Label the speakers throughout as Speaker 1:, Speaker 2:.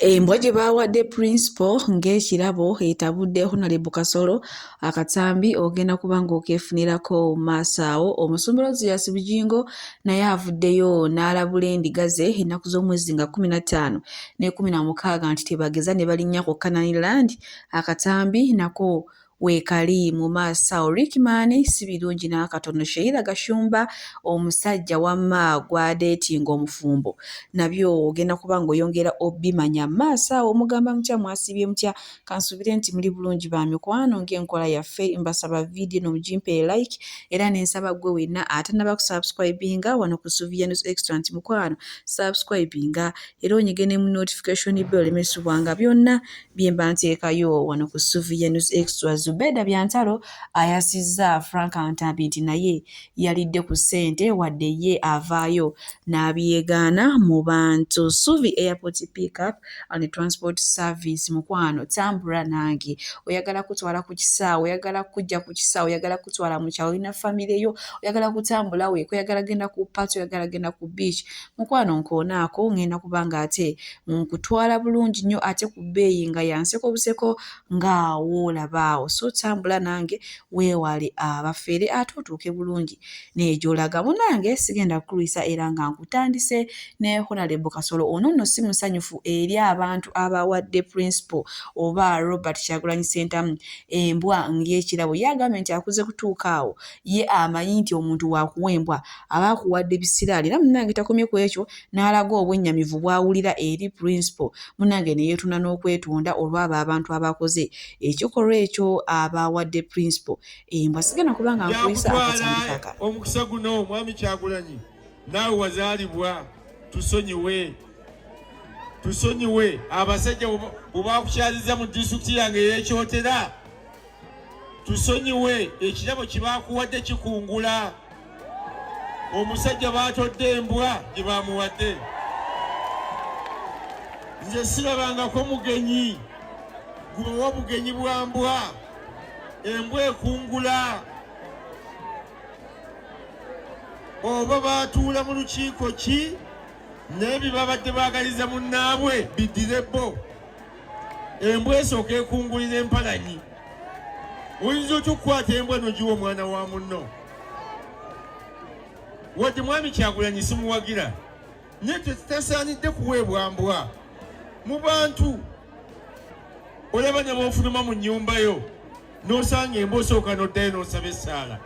Speaker 1: Embwa gye baawadde Principal ng'ekirabo etabudde Honalebo Kasolo akatambi ogenda kuba ng'okeefunirako maaso awo. Omusumbula Ozias Bugingo naye avuddeyo n'alabula endiga ze ennaku z'omwezi nga kkumi na ttaano n'ekkumi na mukaaga nti tebageza ne balinnya ku Canaan Land akatambi nako Weekali mu maasawo Rickman si birungi n'akatono Sheila Gashumba omusajja wamma gw'adeetinga omufumbo nabyo ogenda kuba ng'oyongera obimanya mu maaso awo Mugamba mutya mwasiibye mutya kansuubire nti muli bulungi ba mikwano ng'enkola yaffe mbasaba vidiyo eno mugimpe like era ne nsaba ggwe wenna atannaba kusubscribinga wano ku Sylvia News Extra nti mukwano subscribinga era onyige ne mu notification bell olemesebwanga byonna byemba nteekayo wano ku Suvia News Extra. Zubeda Byantalo ayasizza Frank Ntambi nti naye yalidde ku ssente wadde ye avaayo n'abyegaana mu bantu. Suvi Airport Pick Up and Transport Service mukwano tambula nange oyagala kutwala ku kisaawe oyagala kujja ku kisaawe oyagala kutwala mu kyalo olina famire yo oyagala kutambula weeko oyagala genda ku paati oyagala genda ku beach Mukwano nkoonaako ngenda kuba ng'ate nkutwala bulungi nnyo ate ku bbeeyi nga ya nseko buseko nga woolaba awo. So tambula nange weewale abafere ate otuuke bulungi naye gy'olaga. Munnange sigenda kukulwisa era nga nkutandise ne Honalebo Kasolo. Ono nno si musanyufu eri abantu abawadde Principal oba Robert Kyagulanyi Ssentamu embwa ng'ekirabo. Ye agambye nti akuze kutuuka awo ye amanyi nti omuntu wakuwa embwa aba akuwadde bisiraani era munange takomye ku ekyo n'alaga obwennyamivu bw'awulira eri principal munange ne yeetuna n'okwetonda olw'abo abantu abakoze ekikolwa ekyo abaawadde principal embwa sigenda kuba nga nkuyisa akatambi kakala omukisa guno
Speaker 2: omwami kyagulanyi naawe wazaalibwa tusonyiwe tusonyiwe abasajja bwebakukyaliza mu disitulikiti yange yekyotera tusonyiwe ekirabo kyebakuwadde kikungula omusajja batodde embwa gyebamuwadde nze sirabangako mugenyi gubawa bugenyi bwa mbwa embwa ekungula oba batuula mu lukiiko ki naye byebabadde bagaliza munnaabwe biddire bo embwa esooka ekungulira empalanyi oyinza otya okukwata embwa nogiwa omwana wa munno wadde mwami kyagulanyi simuwagira naye tetutasaanidde kuweebwa mbwa mu bantu olaba nebofuluma mu nyumba yo nosanga emba osooka noddayo nosaba essaala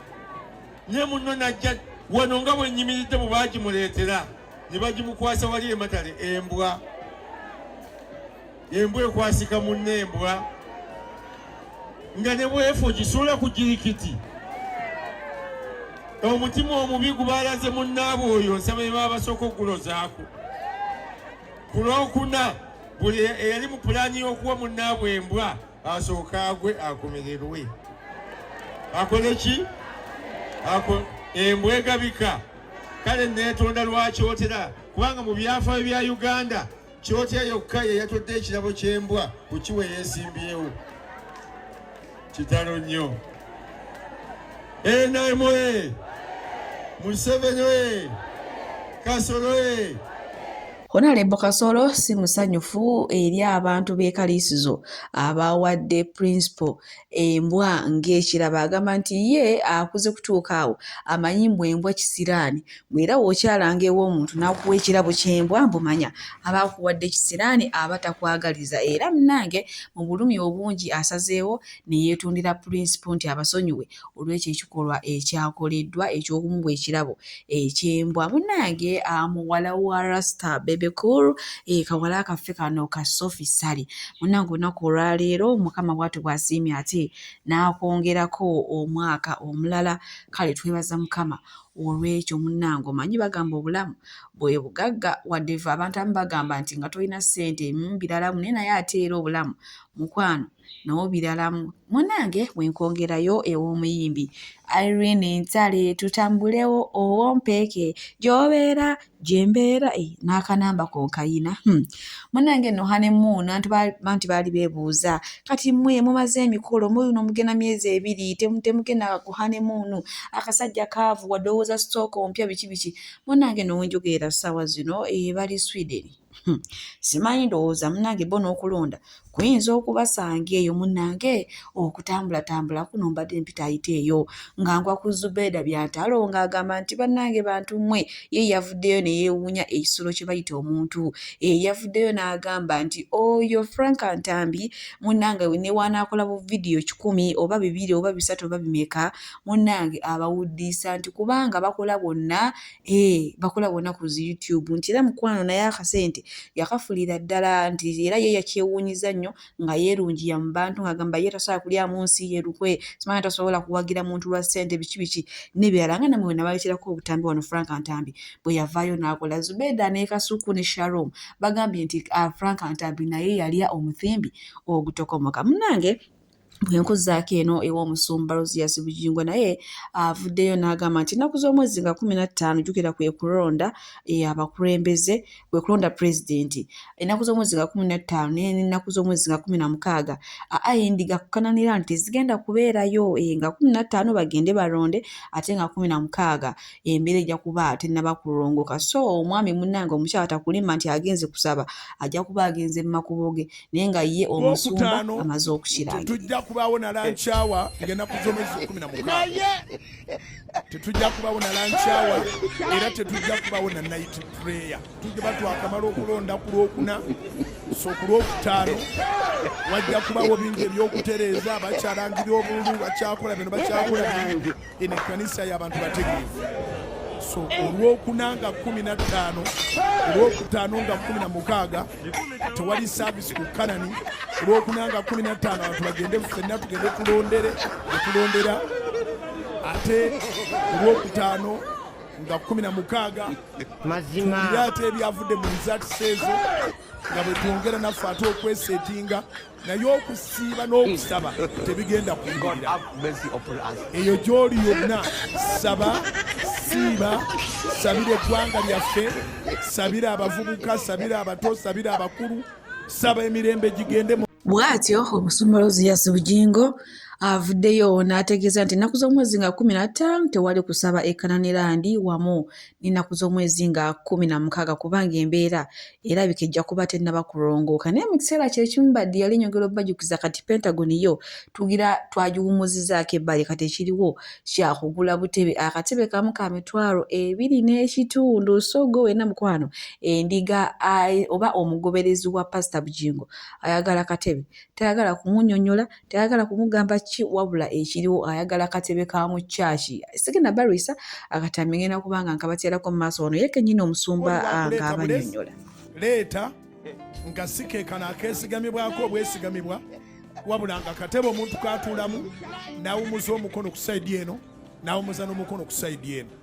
Speaker 2: naye munno najja wano nga bwenyimiridde bwe bagimuleetera ne bagimukwasa wali ematale embwa embwa ekwasika munna embwa nga ne bwefu ogisuula ku jirikiti omutima omubi gubalaze munnaabwe oyo nsaba ebaba basooka okugulozaako ku lwokuna buli eyali mu pulaani y'okuwa munnaabwe embwa asooke agwe akomererwe akole ki embwa egabika kale neetonda lwakyotera kubanga mu byafaayo bya uganda kyotya yokka yeyatodde ekirabo ky'embwa ku kiwe yeesimbyewo kitalo nnyo nm museveni kasolo
Speaker 1: Honalebo Kasolo si musanyufu eri abantu b'e Kaliisizo abaawadde Principal embwa ng'ekirabo agamba nti ye akuze kutuuka awo amanyi mbu embwa kisiraani mbu era w'okyalanga ew'omuntu n'akuwa ekirabo ky'embwa mbu manya aba akuwadde kisiraani aba takwagaliza era munnange mu bulumi obungi asazeewo ne yeetundira Principal nti abasonyiwe olw'ekyo ekikolwa ekyakoleddwa eky'okumuwa ekirabo eky'embwa. Munnange ah, muwala wa Rasta Bebe Cool, eh, kawala kaffe kano ka Sophie Ssali. Munnange olunaku olwaleero Mukama bw'atyo bw'asiimye ate n'akwongerako omwaka omulala. Kale twebaza Mukama olw'ekyo munnange omanyi bagamba obulamu bwe bugagga wadde fe abantu abamu bagamba nti nga tolina ssente mm, biralamu naye naye ate era obulamu mukwano n'obiralamu munange wenkwongerayo ew'omuyimbi irene ntale tutambulewo owompeeke gyobeera gyembeera eh, n'akanamba konkayina hmm. munange no hanemuuna banti baali bebuuza kati mwe mumaze emikolo muyuno mugenda myezi ebiri temugenda ku hanemuunu akasajja kaavu wadowooza sitooka ompya biki biki munange nowenjogeera ssaawa zino eh, bali sweden Hmm. simanyi ndowooza munange bo n'okulonda kuyinza okubasanga eyo munange okutambulatambula kuno mbadde mpita ayita eyo nga ngwa ku zubeeda byantalo ng'agamba nti bannange bantu mmwe ye yavuddeyo ne yeewuunya ekisulo kye bayita omuntu eh, yavuddeyo n'agamba nti oyo frank ntambi munange newanaakola bu vidiyo kikumi oba bibiri oba bisatu oba bimeka munange abawuddiisa nti kubanga bakola bonna Hey, bakola wona ku zi youtube nti era mukwano naye akasente yakafulira ddala nti era ye yakyewuunyiza nnyo nga yeerungiya mu bantu ng'agamba ye tasobola kulyamu nsi ye lukwe simanya tasobola kuwagira muntu lwa ssente biki biki n'ebirala nga namwe wena balekerako obutambi wano frank ntambi bwe yavaayo n'akola zubeeda ne kasuku ne sharom bagambye nti ah, frank ntambi naye yalya omuthimbi ogutokomoka munange bwenkuzaako eno ew'omusumba rosias bugingo naye avuddeyo n'agamba nti ennaku z'omwezi nga kumi na ttaano jukira kwe kulonda e, abakulembeze kwe kulonda pulezidenti ennaku z'omwezi nga kumi na ttaano naye n'ennaku z'omwezi nga kumi na mukaaga aindi gakukananira nti tezigenda kubeerayo e, nga kumi na ttaano bagende balonde ate nga kumi na mukaaga embeera ejja kuba tennaba kulongoka so omwami munnange omukyala takulimba nti agenze kusaba ajja kuba agenze mu makubo ge naye nga ye omusumba amaze okukiranga tetujja kubaawo na lankyawa
Speaker 3: egenda kuzomesa kumi na mukaaga tetujja kubaawo na lankyawa era tetujja kubaawo na night prayer tujiba twakamala okulonda ku lwokuna so ku lwokutaano wajja kubaawo bingi ebyokutereeza bakyalangira obululu bakyakola bino bakyakola bingi eno ekkanisa y'abantu bategeevu so olwokuna nga kumi na ttaano olwokutaano nga kumi na mukaaga tewali saavisi ku kanani olwokuna nga kumi na ttaano abantu bagende fenna tugende tulondere etulondera ate olwokutaano nga kumi na mukaaga mazima ate ebyavudde mu rizatisi ezo nga bwetwongera naffe ate okwesetinga naye okusiiba n'okusaba tebigenda kuyirira eyo gy'oli yonna saba siiba sabira eggwanga lyaffe sabira abavubuka sabira abato sabira abakulu saba emirembe gigende bw'atyo
Speaker 1: omusumolozi yasi bugingo avuddeyo n'ategeeza nti ennaku z'omwezi nga kumi na ttaano tewali kusaba ekananirandi wamu n'ennaku z'omwezi nga kkumi na mukaaga kubanga embeera erabika ejja kuba tennaba kulongooka naye mu kiseera kye kimu baddi yali nyongera obajukiza kati pentagon yo tugira twagiwumuzizzaako ebbali kati ekiriwo kyakugula butebe akatebe kamu ka mitwalo ebiri n'ekitundu so gwe wena mukwano endiga oba omugoberezi wa pasita bujingo ayagala katebe tayagala kumunyonyola tayagala kumugamba ki wabula ekiriwo ayagala katebe ka mu kyaki sigenda balwisa akatambi ngenda kubanga nkabatyalako mu maaso wano yekenyini omusumba nga abanyonyola leeta
Speaker 3: nga sikekano akesigamibwako obwesigamibwa wabula nga katebe omuntu katuulamu nawumuza omukono ku saidi eno nawumuza n'omukono ku saidi eno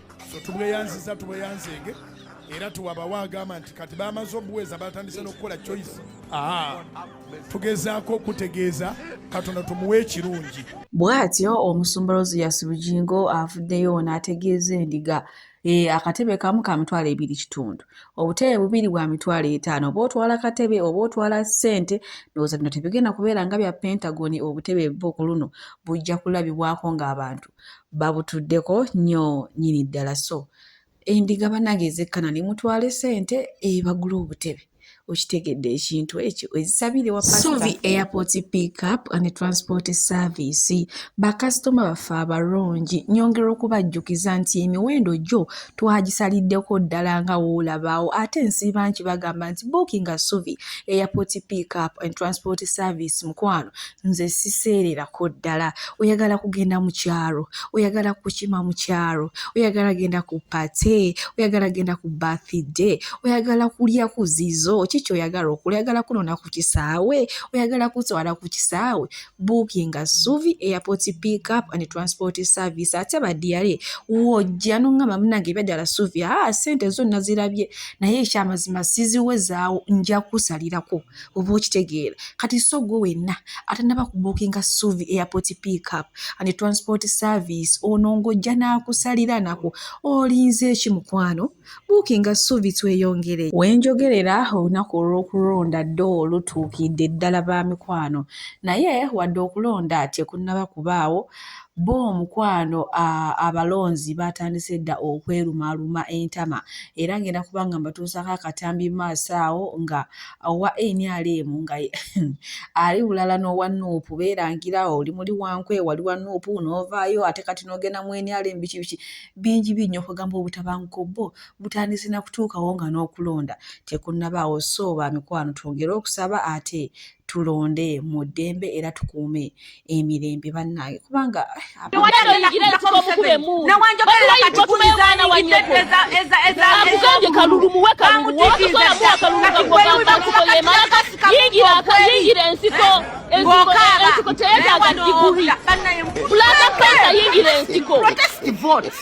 Speaker 3: so tubweyanziza tubweyanzeege era tuwabawo agamba nti kati bamaze obuweeza batandise n'okukola choice aa tugezaako okutegeeza katonda tumuwa ekirungi bw'atyo
Speaker 1: omusumba rosias bugingo avuddeyo n'ategeeza endiga eh, akatebe kamu ka mitwalo ebiri kitundu obutebe bubiri bwa mitwalo etaano oba otwala katebe oba otwala ssente ndowooza bino tebigenda kubeera nga bya pentagoni obutebe bo ku luno bujja kulabibwako ng'abantu babutuddeko nnyo nyini ddala so endiga banange ezekkana ne mutwala esente ebagula obutebe okitegedde ekintu ekyo ezisabire wasovi airport pickup and transport service bakasitoma baffe abalungi nyongera okubajjukiza nti emiwendo gyo twagisaliddeko ddala nga woolabaawo ate nsiiba nki bagamba nti bookinga sovi airport pickup and transport service mukwano nze siseererako ddala oyagala kugenda mu kyalo oyagala kukima mu kyalo oyagala genda ku pate oyagala genda ku bathide oyagala kulya ku zizo kiki oyagala okula oyagala kunona ku kisaawe oyagala kutwala ku kisaawe buukinga suvi airport pick up and transport service ate badiyale wojja noŋŋamba munange ebyadala suvi aa ah, sente zonna zirabye naye ekyamazima siziwezaawo nja kusalirako oba okitegeera kati so gwe wenna atanaba kubukinga suvi airport pickup and transport service ono ng'ojja n'akusalira nako olinze eki mukwano bukinga suvi tweyongere wenjogerera olunaku olw'okulonda dde olutuukidde ddala ba mikwano naye wadde okulonda tekunaba kubaawo Bbo mukwano abalonzi baatandise dda okwerumaaluma entama era ng'enda kuba nga mbatuusaako akatambi mu maaso awo nga owa nrm nga ali bulala n'owa nup beerangira oli muli wankwe wali wa nup n'ovaayo ate kati n'ogenda mu nrm biki biki bingi bingi nnyo kwegamba obutabanguko bbo butandise na kutuukawo nga n'okulonda tekunnabaawo so ba mikwano twongere okusaba ate tulonde mu ddembe era tukuume emirembe bannange kubanga yingira ensiko ensiko teyetaaga diguri pulata
Speaker 4: pesa yingira ensiko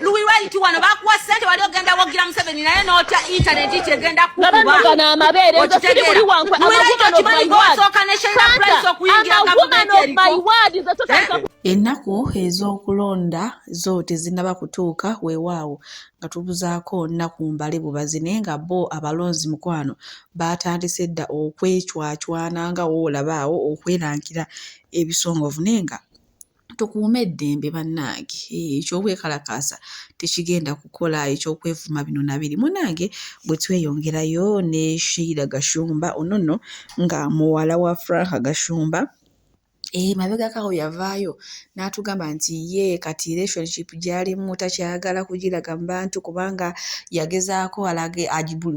Speaker 4: luwiraiti wano bakuwa sente wali ogenda wogira museveni naye notya intaneti kyegenda kukubaokimanyigowasooka neshairaprice okuyingira
Speaker 1: ennaku ez'okulonda zo tezinaba kutuuka weewaawo nga tubuzaako nnaku mbale bubazi naye nga bo abalonzi mukwano baatandise dda okwecwacwana nga woolaba awo okwerankira ebisongovu naye nga tukuume eddembe bannange eky'obwekalakaasa tekigenda kukola eky'okwevuma bino na biri munange bwe tweyongerayo ne sheira gashumba ono nno nga muwala wa franka gashumba Eh, mabegako awo yavaayo n'atugamba nti ye kati relationship gy'alimu takyagala kugiraga mu bantu kubanga yagezaako alage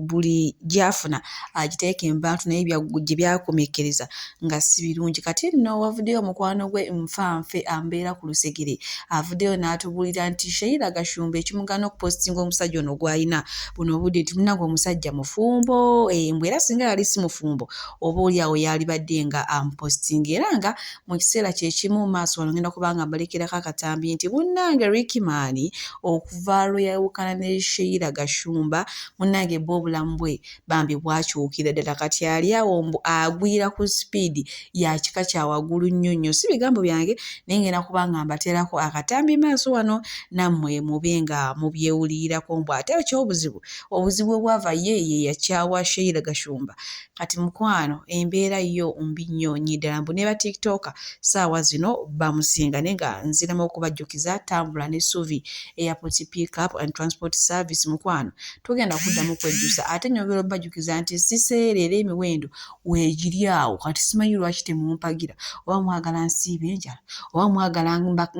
Speaker 1: buli gy'afuna agiteeke mu bantu naye gye byakomekereza nga si birungi kati nno wavuddeyo omukwano gwe nfa nfe ambeera ku lusegere avuddeyo n'atubuulira nti sheira gashumba ekimugana okupositinga omusajja ono gw'alina buno obudde nti munange omusajja mufumbo embw eh, era singa yali si mufumbo oba oli awo yaalibadde nga amupositinga era nga mu kiseera kye kimu maaso wano ngenda kuba nga mbulekerako akatambi nti munnange Rickman okuva lwe yawukana ne Sheila Gashumba munnange bba obulamu bwe bambi bwakyukira ddala kati ali awo mbu agwira ku sipiidi ya kika kya waggulu nnyo nnyo si bigambo byange naye ngenda kuba nga mbateerako akatambi maaso wano nammwe mube nga mubyewulirirako mbu ate ekyobuzibu obuzibu obwava ye ye yakyawa Sheila Gashumba kati mukwano embeera yo mbi nnyo nyi ddala mbu neba tiktoka saawa zino bamusinga naye nga nziramu okubajjukiza tambula ne suvi airport pick up and transport service mukwano tugenda kuddamu kwejjusa ate nyongera obajjukiza nti siseera era emiwendo wegiri awo kati simanyi lwaki temumpagira oba mwagala nsiiba enjala oba mwagala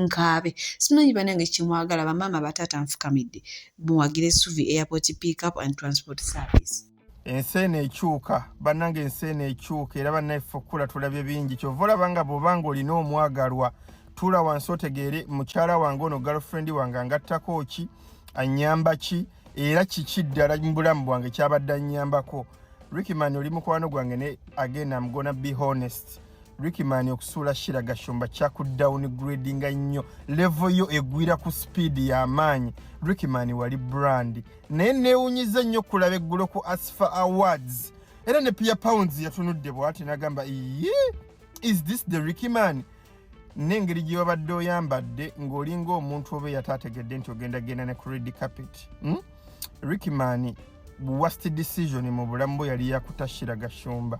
Speaker 1: nkaabe simanyi banange kyemwagala bamaama bataata nfukamidde muwagire suvi airport pick up and transport service ensi eno
Speaker 2: ekyuka bannange ensi eno ekyuka era bannaffe okukula tulabye bingi kyova olaba nga bwoba nga olina omwagalwa tuula wansi otegeere mukyala wange ono girlfriend wange angattako ki anyamba ki era kiki ddala mu bulamu bwange kyabadde anyambako rickman oli mukwano gwange ne again am gonna be honest
Speaker 5: rickman okusuula shira gashumba kyakudown gradinga nnyo levo yo egwira ku speed y'amaanyi rickman wali brand naye neewunyiza ennyo okulaba eggulo ku asfa awards era ne pia pounds yatunudde bwati nagamba iye is this the ricky man n'engeri gye wabadde oyambadde ng'olinga omuntu oba eyataategedde nti ogenda genda ne credi capit hmm? ricky man worst decision mu bulamu bwe yali yakutashira gashumba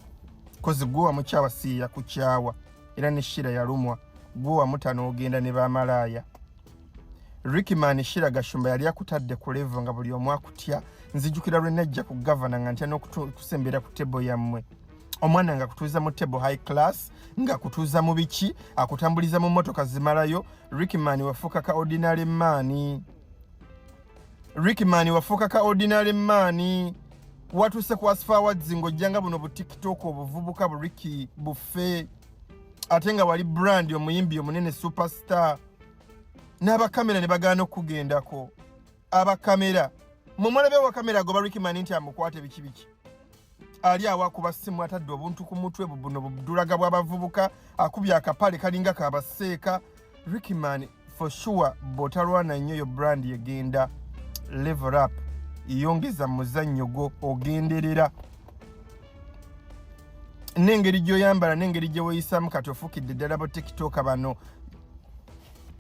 Speaker 5: kozi gwe wamukyawa si yakukyawa era ne shira yalumwa gwe wamutana ogenda ne bamalaaya Rickman Shira Gashumba yali akutadde ku level nga buli omu akutya nzijukira lwe najja ku governor nga ntya n'okusembera ku table yammwe omwana nga kutuuza mu table high class nga kutuuza mu biki akutambuliza mu motoka zimalayo Rickman wafuuka ka ordinary man Rickman wafuuka ka ordinary man watuuse ku asfa awards ng'ojja nga buno bu tiktok obuvubuka bu Ricky bufe ate nga wali brand omuyimbi omunene superstar n'abakamera ne bagaana okukugendako abakamera mwe mulabe wakamera agoba rikimani nti amukwate biki biki ali awo akuba ssimu atadde obuntu ku mutwe bubuno budulaga bw'abavubuka akubye akapale kalinga kabaseeka rikimani for sure bw'otalwana nnyo yo brand egenda level up yongeza muzannyo gwo ogenderera n'engeri gy'oyambala n'engeri gye weeyisaamu kati ofukidde ddala bo tikitoka bano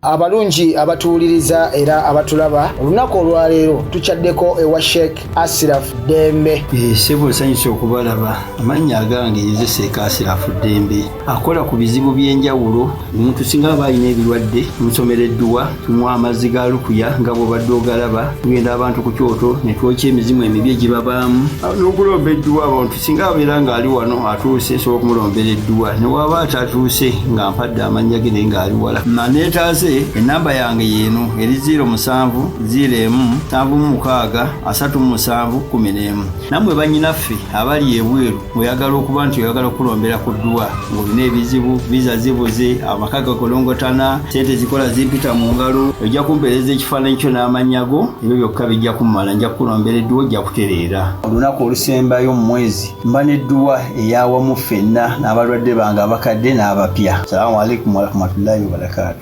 Speaker 5: abalungi
Speaker 6: abatuwuliriza era abatulaba olunaku olwaleero tukyaddeko ewa sheik asiraf dembe eh, sebo nsanyusa
Speaker 7: okubalaba amannya agange nze seeka asiraf dembe akola ku bizibu by'enjawulo omuntu singa aba alina ebirwadde musomera edduwa tumuwa amazzi ga lukuya nga bwobadde ogalaba tugenda abantu ku kyoto ne twokya emizimu emibi egibabaamu n'okulomba edduwa abantu singa abeera ng'ali wano atuuse nsobola okumulombera edduwa ne waaba atatuuse nga mpadde amannya ge naye ng'ali wala maneetaaze ennamba yange yeeno eri 0 musanvu 0 emu nsanvu mu mukaaga asatu mu musanvu kumi n'emu nammwe bannyinaffe abali ebweru oyagala okuba nti oyagala okukulombera ku dduwa ng'olina ebizibu viza zibuze amaka gakolongotana sente zikola zimpita mu ngalo ojja kumpeereza ekifaananyi kyo n'amannya go ebyo byokka bijja kummala nja kukulombera edduwa ojja kutereera olunaku olusembayo mu mwezi mba n'edduwa eyawamu ffenna n'abalwadde bange abakadde n'abapya salamu alaikum warahmatullahi wabarakaatu